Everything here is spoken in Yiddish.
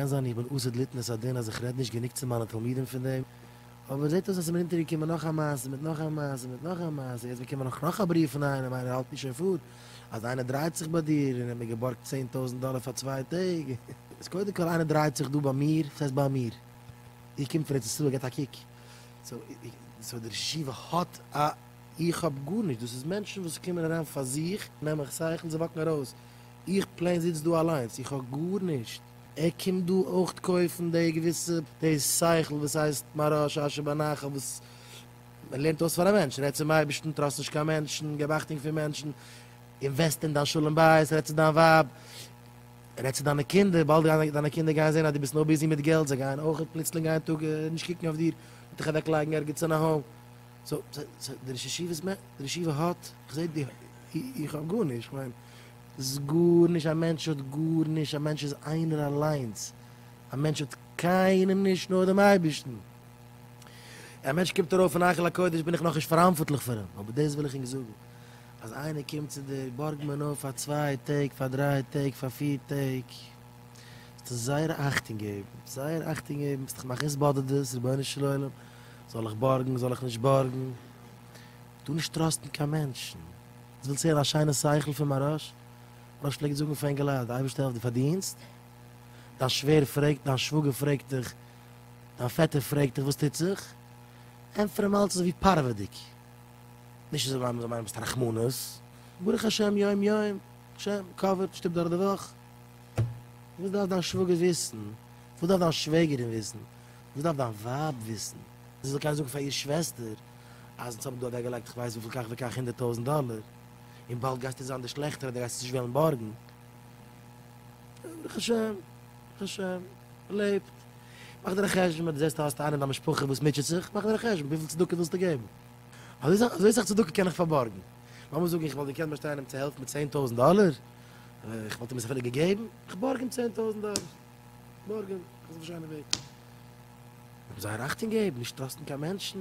קען זיין איך בין אסד ליתנות הדין אז איך רעד נישט גענוג צו מיינע תלמידים פון דעם, אבער זעט אויס אז עס איז מיר אונטערגעקומען נאך א מעשה מיט נאך א מעשה מיט נאך א מעשה, יעצט באקומען איך נאך א בריוו פון איינעם, איינער האלט מיר שוין פאר, אז איינער דרייט זיך ביי דיר און ער האט מיר געבארגט צען טויזנט דאלער פאר צוויי טעג, איז קודם כל איינער דרייט זיך דא ביי מיר, וואס הייסט ביי מיר? איר קומט פון ארץ ישראל געבט א קוק, סאו דער ראש ישיבה האט א, איך האב גארנישט, דאס איז מענטשן וואס קומען אריין פאר זיך, נעם איך שכל, זיי וואקן ארויס. איך פלעין זיץ דא אליינס, איך האב גארנישט. ער קומט דא אויך קויפן די געוויסע די שכל וואס הייסט מראה שעשה בנחל וואס מען לערנט אויס פאר א מענטש, רעד צום אייבערשטן, טראסט נישט קיין מענטשן, געב אכטונג פון מענטשן, אינוועסט אין דיין שלום בית, רעד צו דיין ווייב, רעד צו דיינע קינדער, באלד גייען דיינע קינדער גייען זען אז דו ביסט נאר ביזי מיט געלט, זיי גייען אויך פלוצלינג איין טאג נישט קוקן אויף דיר, און דיך אוועק לייגן ערגעץ אין א האום. סאו די ראש ישיבה האט, איך זע איך האב גארנישט, איך מיין. ס גארנישט, א מענטש האט גארנישט, א מענטש איז איינער אליינס, א מענטש האט קיינעם נישט נאר דעם אייבערשטן, א מענטש קומט ארויף אין היכל הקודש בין איך נאכנישט פאראנפארטליך פאר אים, אבער דאס וויל איך ענק זאגן, אז איינער קומט צו דיר בארג מען אויף פאר צוויי טעג, פאר דריי טעג, פאר פיר טעג, זאלסטו זייער אכטונג געבן, זייער אכטונג געבן, ביסט דיך מכניס באדערט דאס, רבונו של עולם, זאל איך בארגן, זאל איך נישט בארגן. טו נישט טראסטן קיין מענטשן. דו ווילסט הערן א שיינע שכל פון מהרש? מהרש פלעגט זאגן פאר אינגעלייט, די אייבערשטער העלפט די פארדינסט. דיין שווער פרעגט, דיין שוואגער פרעגט דיך, דיין פעטער פרעגט דיך וואס טוט זיך, ענטפער אים אלץ אזויווי פארוועדיג. נישט אזוי ווייל מ'זאל מיינען ביסט א רחמנות. ברוך השם יום יום, השם קאווערט, שטופט דורך די וואך. וואס דארף דיין שוואגער וויסן? וואס דארף דיין שוועגערין וויסן? וואס דארף דיין ווייב וויסן? זי זאל קענען זאגן פאר איר שוועסטער. אז אונז האבן דא אוועקגעלייגט איך ווייס וויפיל כך וכך הונדערט טויזנט דאלער, און באלד גייסטו זיין דער שלעכטער אדער גייסט עס נישט וועלן בארגן. ברוך השם, ברוך השם, מען לעבט. מאך דיר א חשבון ווען דו זעסט אז האסט איינעם אין דיין משפחה וואס מוטשעט זיך, מאך דיר א חשבון וויפיל צדקה ווילסטו געבן. אזוי סאך צדקה קען איך פארבארגן. לאמיר זאגן איך וואלט געקענט באשטיין אים צו העלפן מיט צען טויזנט דאלער, איך וואלט אים עס אפילו געגעבן. איך בארג אים צען טויזנט דאלער. איך בארג אים. איך זיך נישט איין אויף דעם. זיי זייער אכטונג געבן, נישט טראסטן קיין מענטשן.